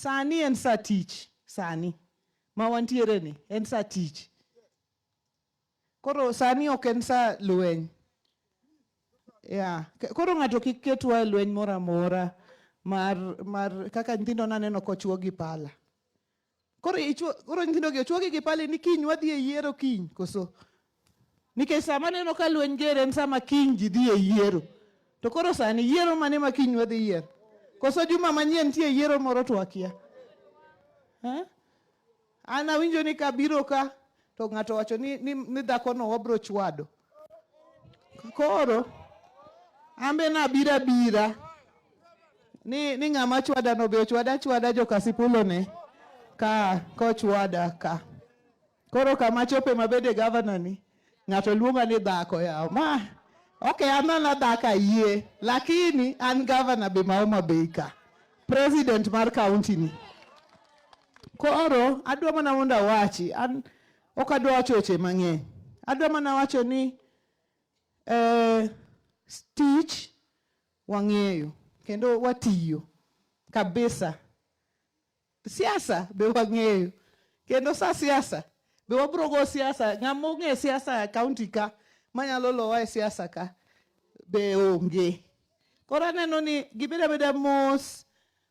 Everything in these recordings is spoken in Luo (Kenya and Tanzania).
Sani en sa tich, sani ma wantiere ni en sa tich. Koro sani ok en sa lweny. Yeah. Koro ng'ato kik ketwa e lweny moro amora mar, mar kaka nyithindo naneno kochwo gi pala. Koro ichwo, koro nyithindo gi ochwogi gi pale ni kiny wadhi e yiero kiny koso. Nikech sama neno ka lweny ger en sama kiny ji dhi e yiero. To koro sani yiero mane ma kiny wadhi yiero? Koso juma manyien nitie yiero moro to akia. Eh? An awinjo ni kabiro ka to ng'ato wacho ni, ni, ni dhakono wabro chwado. Koro ambe nabira bira ni, ni ng'ama chwada no be ochwada chwada jokasipulo ne ka kochwada ka koro kama chope mabede gavana ni ng'ato luonga ni dhako yawo ma ok anana dhaka yie lakini an gavana be maoma bei ka president mar kaunti ni Koro adwa mana mondo awachi, an ok adwa wacho weche mang'eny. Adwa mana wacho ni eh, tich wang'eyo kendo watiyo kabisa. Siasa be wang'eyo kendo sa siasa be wabiro go siasa. Ng'ama ong'e siasa e kaunti ka manyalo lowa e siasa ka be onge. Koro aneno ni gibeda beda mos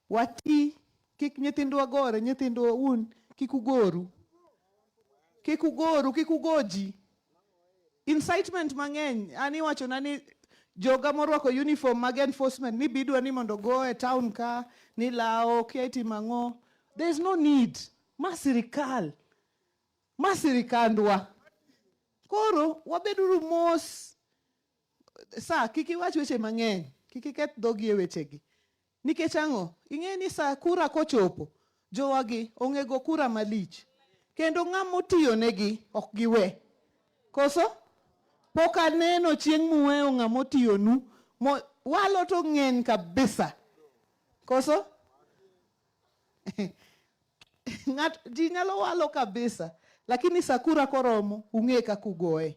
Wati, kik nyithindwa gore, nyithindwa un kik ugoru. Kik ugoru, kik ugoji. Incitement mang'eny, an iwachona ni joga morwako uniform mag enforcement ni bidwa ni mondo go e town ka ni lawo kia itimo ang'o. There is no need. Ma sirikal. Ma sirikandwa. Koro wabeduru mos. Sa, kik iwach weche mang'eny. Kik iketh dhogi e wechegi. Nikech ang'o? Ing'eyo ni sa kura kochopo, jowagi ong'ego kura malich. Kendo ng'ama otiyonegi ok giwe. Koso? Pok aneno chieng' muweyo ng'ama otiyonu. Walo to ng'eny kabisa. Koso? Ng'at, ji nyalo walo kabisa. Lakini sa kura koromo, ung'e kaka ugoye.